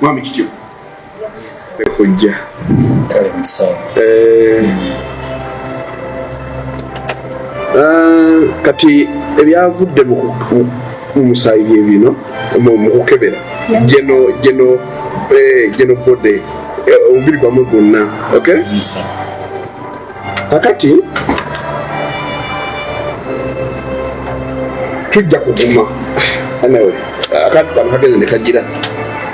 Mwami kityo. Ekujja. Kale msawa. Eh. Ah, kati ebyavudde mu musaayi bye bino mu kukebera geno geno eh, geno bode eh, omubiri gwamwe gwonna okay? kakati tujja kuguma anyway akantu kano kagenda nekagira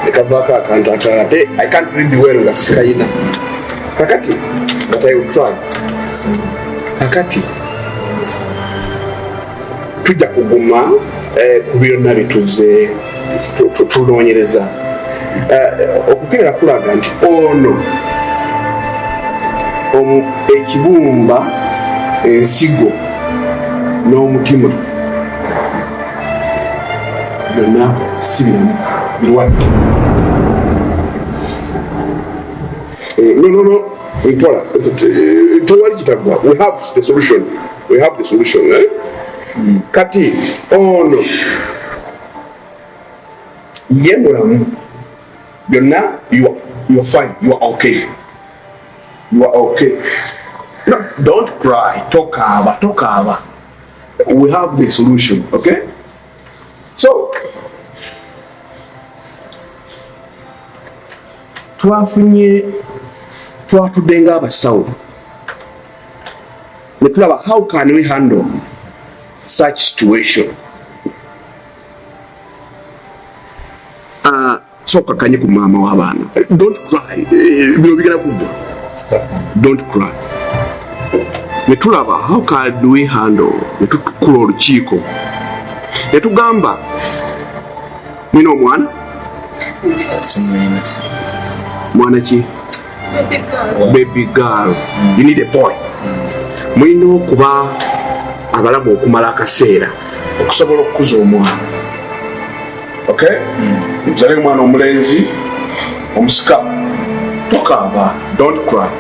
nekavaako akantu akalala te i can't read well nga sikayina kakati but i will try kakati tujja kuguma eh, ku byonna bituze tunoonyereza eh, okukeera kulaga nti ono ekibumba ensigo n'omutima byonna si biramu birwadde eh, no no no mpola tewali kitagwa we have the solution we have the solution eh? mm. kati ono oh, ye mulamu byonna you are fine you are okay you are okay no, don't cry tokaaba tokaaba we have the solution okay so twafunye twatudde nga abasawo ne tulaba how can we handle such situation ah, soka kanye ku mama wa bana don't cry eh, bino bigala kugwa don't cry ne tulaba how can we handle ne tutukula olukiiko ne tugamba mwina omwana mwana ki baby girl, baby girl. Mm. you need a boy mm. mulina okuba abalamu okumala akaseera okusobola okukuza omwana okay mm. mzale omwana omulenzi omusika tokamba don't cry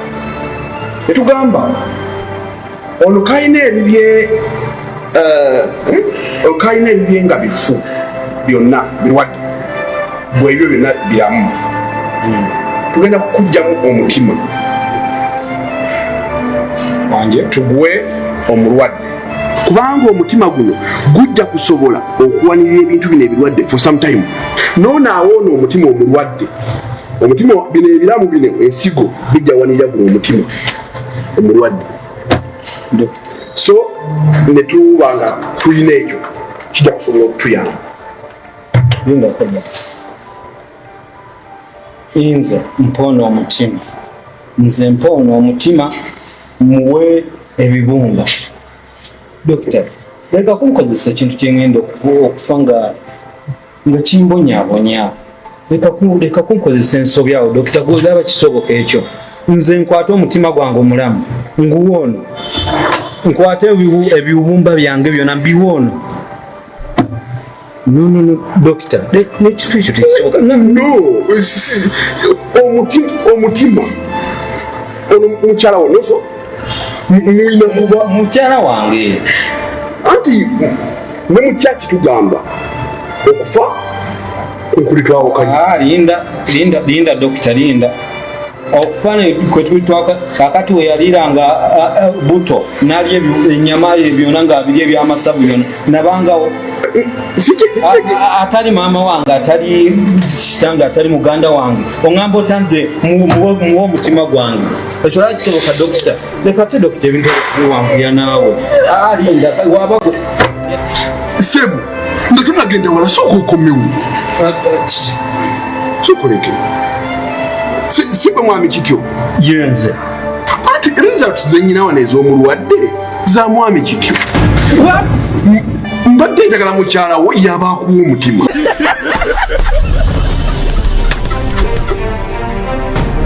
etugamba olukalina ebibye eh, hmm? olukalina ebibye nga bifu byonna birwadde bwebyo byonna biramu hmm. tugenda kukugjamu omutima wange tugwe omulwadde kubanga omutima guno gujja kusobola okuwanirira ebintu bino ebirwadde for some time noona awoona omutima omulwadde omutima bino ebiramu bino ensigo bijja wanirira guno omutima omulwadde so netuba nga tulina ekyo kijja kusobola okutuyamba inze mpoona omutima nze mpoona omutima muwe ebibumba dokita leka kunkozesa ekintu kyengenda okufa nga nga kimbonyabonya leka kunkozesa ensobi awo dokita gwozaba kisoboka ekyo nze nkwate omutima gwange omulamu nguwa ono nkwate ebiwumba byange byona mbiwa ono dokita nekitu ekyo tekisoboka omutima ono mukyalawo noso muyina kuba mukyala wange anti ne mukyaki tugamba okufa kwekuli twawukanya ah, linda linda linda dokita linda okufana kwetulitwaka kakati weyaliira nga buto nalya enyama byona nga abiri ebyamasavu byona nabangawo atali maama wange atali kitange atali muganda wange oŋamba otanze muwa omutima gwange ekyo lwaki kisoboka dokita leka ate dokita ebintu biwanvuya naawe alinda wabago sebo nga tunagenda wala sooka okomewo sokoleke si bwe mwami kityo yenze ati results zenyina wano ez'omulwadde za mwami kityo mbadde njagala mukyala wo yabaakuwa omutima